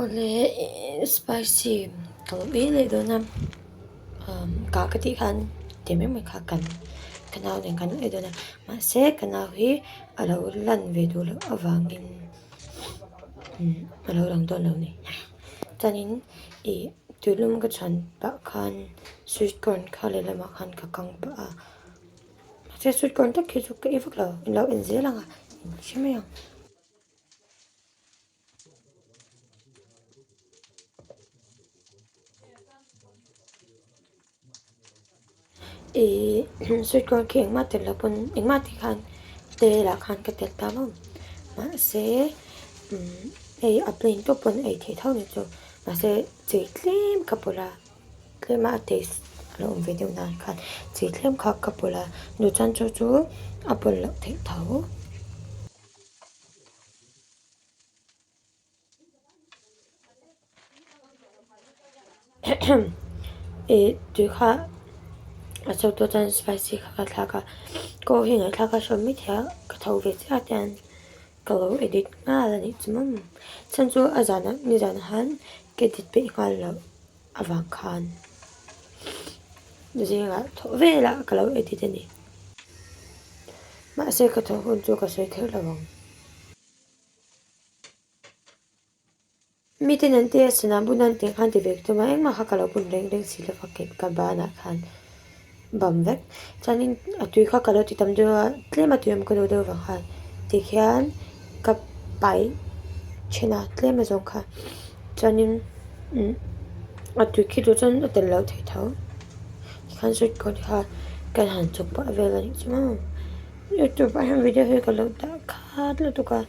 Awle spicy ka lo ber leh dawn a umm kah ka tih khan tel mai mai kha kan ka nau nen ka nalh leh dawn a mahse ka nau hi a lo lan ve duh loh avangin umm a lo lang dawn lo ni chuanin ih tûlum ka chhan pah khan sweet corn kha lehlamah khan ka kang pah a mahse sweet corn tak hi chu ka ei vak lo a lo en zel ang a hriat mai ang. ihh sweet corn khi engmah telh loh pawn engmah te khan te lah khan ka telh ta lo mahse umm hei a plain tawh pawn a ei theih tho ni chu mahse chi tlem ka pawlh a tlema a taste a lo awm ve deuh nan khan chi tlem kha ka pawlh a nuchhan cho chu a pawlh loh theih tho. ih tui kha a chawk tu atan spicy kha ka thlak a kaw hi ngaihthlak a hrawm maithei a ka tho ve chiah ata hian ka lo edit nghal a nih chu mai mai chuan chu a zan a nizan han ka edit peih nghal lo. Avang khan zingah thawh vela ka lo edit a ni. Mahse ka thawh hun chu ka sawi kher lo vang. Mi ten an tia sana buna an tih khan ti ve ka tum a, engmah kha ka lo bun reng reng si lo vang ken ka banah khan. bam vek chuanin a tui kha ka lo ti tam deuh a tlem a tui awm ka duh deuh vang han tikhian ka paih then a tlem azawng kha chuanin a tui khi duh chuan a tel loh thei tho tikhan sawi tawh ni kha kan han chawp pah vel a nih chu mau youtube ah hian video hi ka lo dah khat lutuk a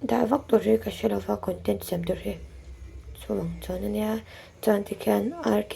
dah vak tur hi ka hre lova content siam tur hi chuvang chuan ania chuan tikhian rk.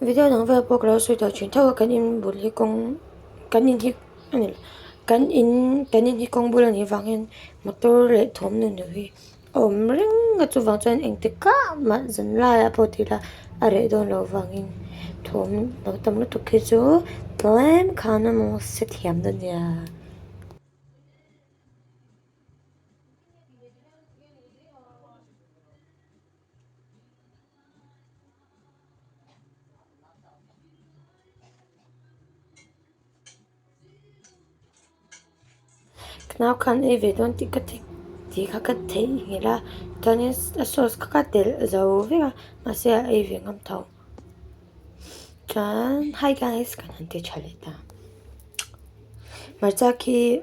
Video dang vel pawh ka lo sawi tawh thin tho a kan in bul hi kawng kan in hi kan in kan in hi kawng bul a nih vang hian motor leh thawm nun loh hi a awm reng a chuvang chuan engti kah mah zan laia pawh ti ila a reh dawn lo vangin thawm lo tam lutuk hi chu tlem khan a maw se thiam dania. Nau khan ei ve dawn tih ka ti tih kha ka theih nghilh a chuanin a sauce kha ka telh zo vek a mahse a ei ve ngam tho chuan hei khan ice kan han ti tha leh ta hmarcha khi--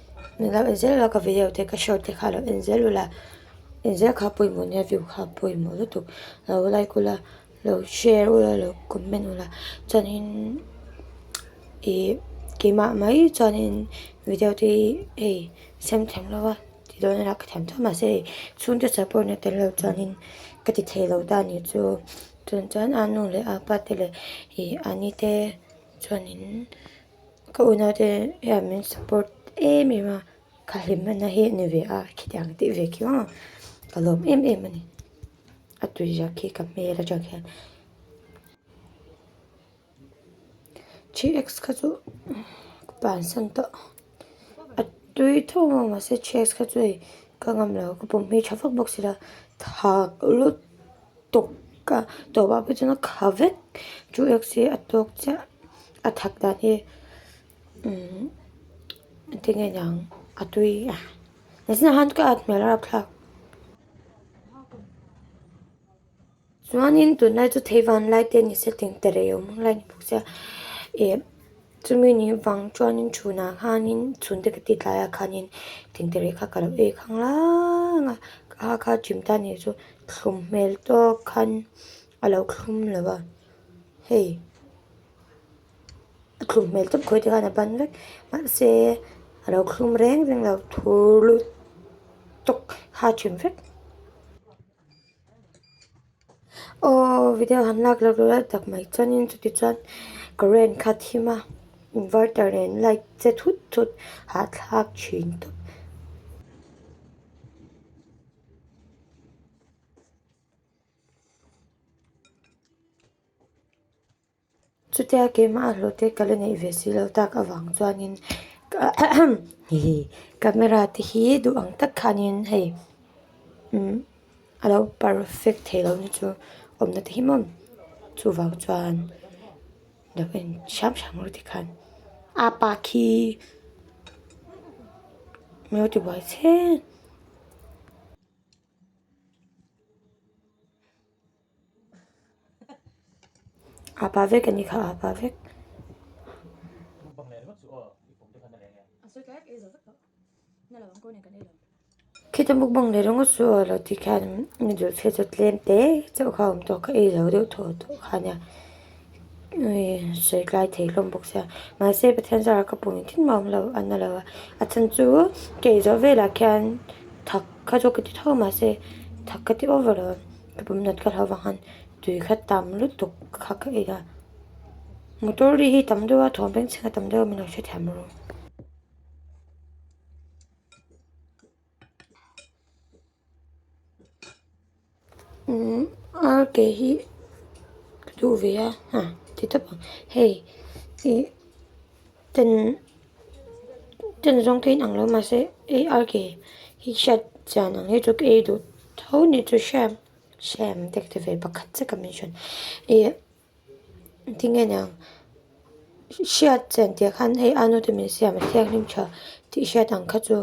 Ni loh inzet loh a ka vei ho te ka hriat loh te kha a lo en zel ula en zel kha pawimawh nia view kha pawimawh lutuk a lo like ula lo share ula a lo comment ula chuanin ihh keimah mai chuanin video te hi hei sem theng lo va ti dawn a lah ka thiam tawh mahse hei chhungte support na tel lo chuanin ka ti thei lo ta ni chu chhun chuan anu leh apa te leh ihh ani te chuanin-- Ka unaute hian min support em em a, ka hlim a na hi a ni ve a, khitiang tih ve khi vang a, ka lawm em em a ni. A tui ziak khi ka hmel atang hian thi ex kha chu ka pansan tawh, a tui theuh vang mahse thi ex kha chu hei ka ngam lo, ka pawm hi tha vak vak si lo, tha lut. tawk a tawp ah pawh chuan a kha vek chu x hi a tawk chiah a that dan hi ti nge niang a tui a nge zinah han ka at hmel a rak thlak chuanin tunlai chu thei vanlai te ni se tling ta rei awm ang lai a ni bawk sia e-- Chumi ni vang chuanin chhunah khanin chhunte ka titlaia khanin tintereh kha ka lo ei khang rang a, a kha chim tan ni chu thlum hmel tawk khan a lo thlum lo va, hei a thlum hmel tawp khawite khan a ban vek mahse a lo thlum reng reng lo thurlut tawk kha a chim vek. Aww video han lak lak lal tak mai chuan in chuti chuan ka rain kha thim a inverter nen light che thut thut hah thlak thin tawp. Chutia keimah a hlawhte ka la neih ve si lo tak avang chuanin hihi camera te hi duh ang tak khanin hei umm a lo perfect thei lo na chu awmna te hi mawn chuvang chuan lo en hrang hrang maw tikhan a pa khi mi lo ti buai che. A pa vek ani kha a pa vek. Khita mukbang leh ringawt chu aw lo tih khian noodle phei chu tlem te chauh kha a awm tawh kha ei lo deuh thaw tawh kha a nia sawi tlai thei hlawm bawk sia mahse pathian zara ka pawmin thin mah a awm lo a na lo a a chhan chu kei zawh velah khian thak kha chu ka ti tho mahse thak ka ti over lo. Ka pawm nat ka hlo vang khan tui kha tam lutuk ka kha ka ila motor ri hi tam deuh a thawm peng chhinga tam deuh a min lo hre thiam rawh. Umm ar ke hi ka duh ve a hah ti tawp ang hei ih-- Ten ten zawng te in ang lo mahse ei ar ke hi hriat chian ang hi chu ka ei duh tho ni chu hriat hriamm dek ta ve pakhat che ka min hran ih ti nge niang hriat chian tih ah khan hei ano te min siam a thianghlim tha tih hriat ang kha chu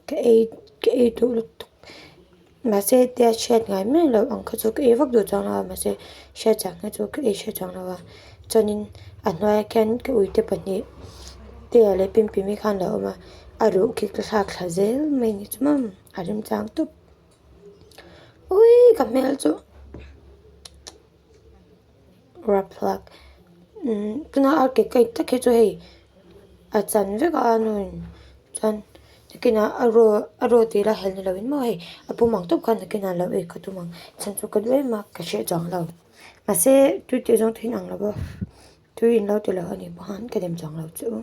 ka ei ka ei duh lutuk. Mahse tia hriat ngai mai loh ang kha chu ka ei vak duh chuang lo a, mahse hriat chak na chu ka ei hriat chang lo a, chuanin a hnuaia khian ka uite pahnih Tia leh Pimpimi khan an lo awm a, a ruh khi ka thlak thla zel mai ni chu mam a rimchang tawp uii ka hmel chu. raphlak tuna a ke kai tak hi chu hei a chan vek a a nu in chuan takin a a row a row tih ila hel ni lo in maw hei a pum ang tawp khan takin a lo ei ka tum ang chhan chu ka duh em a ka hriat chawng lo mahse tui teh zawng te hi an ang lo va tui in lo ti loh anih pawh khan ka dem chawng lo che u.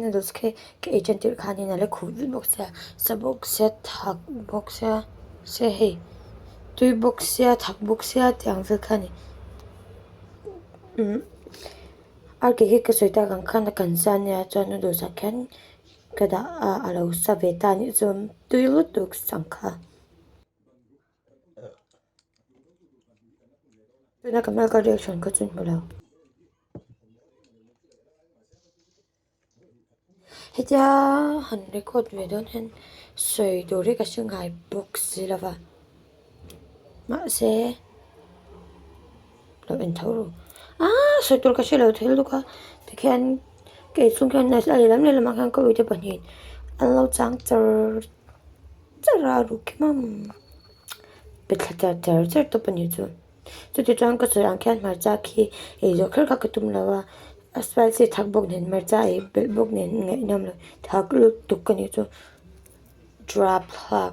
noodles khi ka ei ṭan tirh khanin a la khuh vut bawk sia sa bawk sia thak bawk sia se hei tui bawk sia thak bawk sia tih ang vel kha a ni a ke hi ka sawi tak ang khan a kan sa ania chuan noodles ah khian ka dah a a lo sa ve ta nih chuan tui lutuk si ang kha. tuna ka hmel ka reaction kha chu hmu lo hetia han record ve dawn hian sawi tur hi ka hre nghai bawk si lova mahse. Lo en tho rawh. Aaa sawi tur ka hre lo thei lutuk a, tikhian kei chung hian a lehlam lehlam ah khian ka uite pahnih an lo chang char char a, a ruk khi mam pe thla char char char tawp a nih chu. Chuti chuan ka sawi ang khian hmarcha khi ei zawh kher kha ka tum lo a, a spicy thak bawk nen hmarcha ei belh bawk nen a ngaihnawm lo, thak lutuk ka nih chu ṭuap thlak.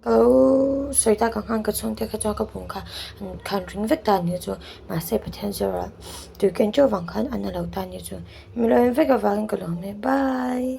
Aw sawitak a nghang ka chhung te kha chuan ka pung kha an khan ring vek ta ni chu mahse pathian zawrah tui ken teuh vang khan a na lo ta ni chu mi lo en vek avangin ka lo hme bai.